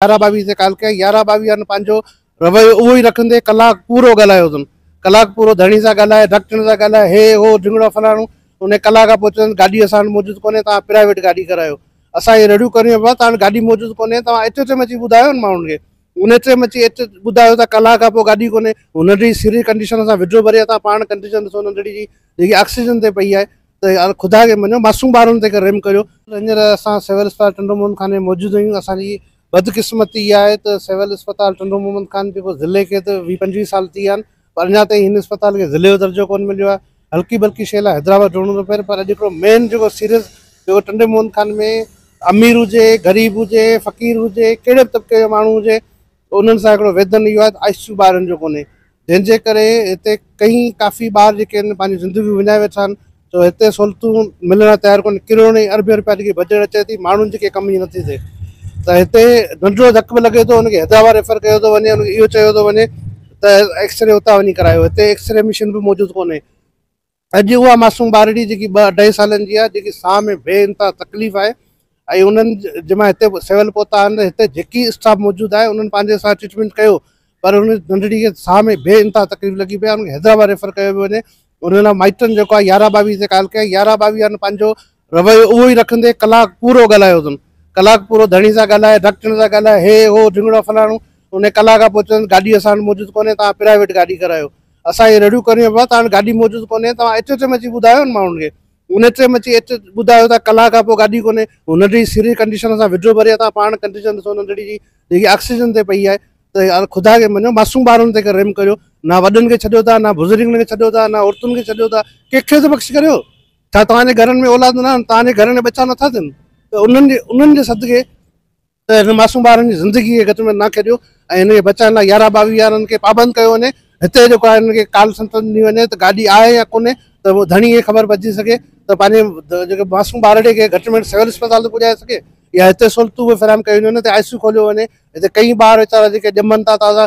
يارهن ٻاويهه تي ڪال ڪيائين، يارهن ٻاويهن پنهنجو رويو اهو ئي رکندي ڪلاڪ پورو ڳالهايو اٿن، ڪلاڪ پورو ڌڻي سان ڳالهائي، ڍڪٽڻ سان ڳالهائي، هي هو ڍنگڙو فلاڻو، انهيء ڪلاڪ کان پوء چيائين گاڏي اسان وٽ موجود ڪونهي، توهان پرائيويٽ گاڏي ڪرايو، اسان اهي رڙيون ڪريون پيا، توهان وٽ گاڏي موجود ڪونهي، توهان ايچ ايچ ايم اچي ٻڌايو نه ماڻهن کي، ان ايچ ايم اچي ايچ ٻڌايو ته ڪلاڪ کان پوء گاڏي ڪونهي، هو ننڍڙي سري ڪنڊيشن سان وڊرو ڀري اٿا، پاڻ ڪنڊيشن ڏسو ننڍڙي جي، جيڪي آڪسيجن تي پئي آهي، ته يار خدا کي مڃو معصوم ٻارن تي ڪر رحم ڪريو. هينئر اسان سول اسپتال ٽنڊو محمد خان ۾ موجود آهيون اسان جي بدقسمتي اها آهي ته سول اسپتال ٽنڊو محمد خان جيڪو ضلعي کي ته ويهه پنجويهه سال ٿي ويا آهن پر اڃا تائين هن اسپتال کي ضلعي جو درجو ڪونه مليو آهي هلڪي ڀلڪي شيء لاء حيدرآباد ڊوڙڻو ٿو پئي پر اڄ هڪڙو مين جيڪو سيريس جيڪو ٽنڊي محمد خان ۾ امير هجي غريب هجي فقير هجي ڪهڙي به طبقي جو ماڻهو هجي انهن سان هڪڙو ويڌن اهو آهي ته آء سي يو ٻارن جو ڪونهي جنهن جي ڪري هتي ڪئين ڪافي ٻار جيڪي آهن پنهنجون زندگيون وڃائي ويٺا آهن ته هتي سهولتون ملڻ لاء تيار ڪونهن ڪروڙين ۽ اربين روپيا جيڪي بجيٽ اچي ٿي ماڻهن جي ڪي ڪم جي نٿي ٿئي ته هتي ننڍڙو ڌڪ به لڳي ٿو ان کي حيدرآباد ريفر ڪيو ٿو وڃي ان کي اهو چيو ٿو وڃي ته ايڪسري اتان وڃي ڪرايو هتي ايڪسري مشين به موجود ڪونهي اڄ اها معصوم ٻارڙي جيڪي ٻه اڍائي سالن جي آهي جيڪي ساهه ۾ بي انتها تڪليف آهي ۽ انهن جي مان هتي سول پهتا آهن هتي جيڪي اسٽاف موجود آهي انهن پنهنجي سان ٽريٽمينٽ ڪيو پر ان ننڍڙي کي ساهه ۾ بي انتها تڪليف لڳي پئي آهي ان کي حيدرآباد ريفر ڪيو پيو وڃي انهن مائٽن جيڪو آهي يارهن ٻاويهه تي ڪال ڪئي يارهن ٻاويهه پنهنجو رويو اهو ئي رکندي ڪلاڪ پورو ڳالهايو اٿن. ڪلاڪ پورو ڌڻي سان ڳالهائي، ڍڪٽن سان ڳالهائي، هي هو ڍينگڙو فلاڻو، انهي ڪلاڪ کان پوء چوندس گاڏي اسان وٽ موجود ڪونهي توهان پرائيويٽ گاڏي ڪرايو. اسان اهي رڙيون ڪريون بابا توهان وٽ گاڏي موجود ڪونهي توهان ايچ ايچ ايم اچي ٻڌايو نه ماڻهن کي. ان ايچ ايم اچي ايچ ٻڌايو ته ڪلاڪ کان پوء گاڏي ڪونهي. هو ننڍڙي سري ڪنڊيشن سان وڊيو ڀري اٿا پاڻ ڪنڊيشن ڏسو ننڍڙي جي جيڪي آڪسيجن تي پئي آهي ته يار خدا کي مڃو معصوم ٻارن تي رحم ڪريو نه وڏن کي ڇڏيو ٿا نه بزرگن کي ڇڏيو ٿا نه عورتن کي ڇڏيو ٿا ڪنهن کي ته بخش ڪريو. ڇا توهان جي گهرن ۾ اولاد نه آهن، توهان جي گهرن جا ٻچا نه ٿا ٿين ته انهن جي انهن جي صدقي ته هن معصوم ٻارن جي زندگي کي گهٽ ۾ نه ڪريو ۽ هن کي بچائڻ لاء يارهن ٻاويهه يارن کي پابند ڪيو وڃي هتي جيڪو آهي هن کي ڪال سنت ڏني وڃي ته گاڏي آهي يا ڪونهي ته ڌڻي کي خبر پئجي سگهي ته پنهنجي جيڪي معصوم ٻارڙي کي گهٽ ۾ گهٽ سول اسپتال ته پڄائي سگهي يا هتي سهولتون به فراهم ڪيون وڃن هتي آء سي يو کوليو وڃي هتي ڪئين ٻار ويچارا جيڪي ڄمن ٿا تازا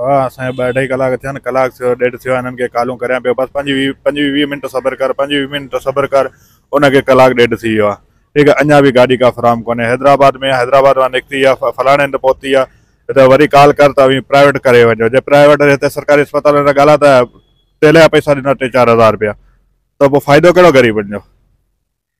ڀاء اسان کي ٻه اڍائي ڪلاڪ ٿيا آهن ڪلاڪ ٿيو ڏيڍ ٿيو آهي انهن کي ڪالون ڪريان پيو بس پنج ويهه پنج ويهه منٽ صبر ڪر پنج ويهه منٽ صبر ڪر ان کي ڪلاڪ ڏيڍ ٿي ويو آهي ٺيڪ آهي اڃا به گاڏي ڪا فراهم ڪونهي حيدرآباد ۾ حيدرآباد مان نڪتي يا فلاڻي هنڌ پهتي آهي ته وري ڪال ڪر ته اوهين پرائيويٽ ڪري وڃو جي پرائيويٽ هتي سرڪاري اسپتالن جا ڳالا ته تيل جا پئسا ڏنا ٽي چار هزار رپيا ته پوء فائدو ڪهڙو غريبن جو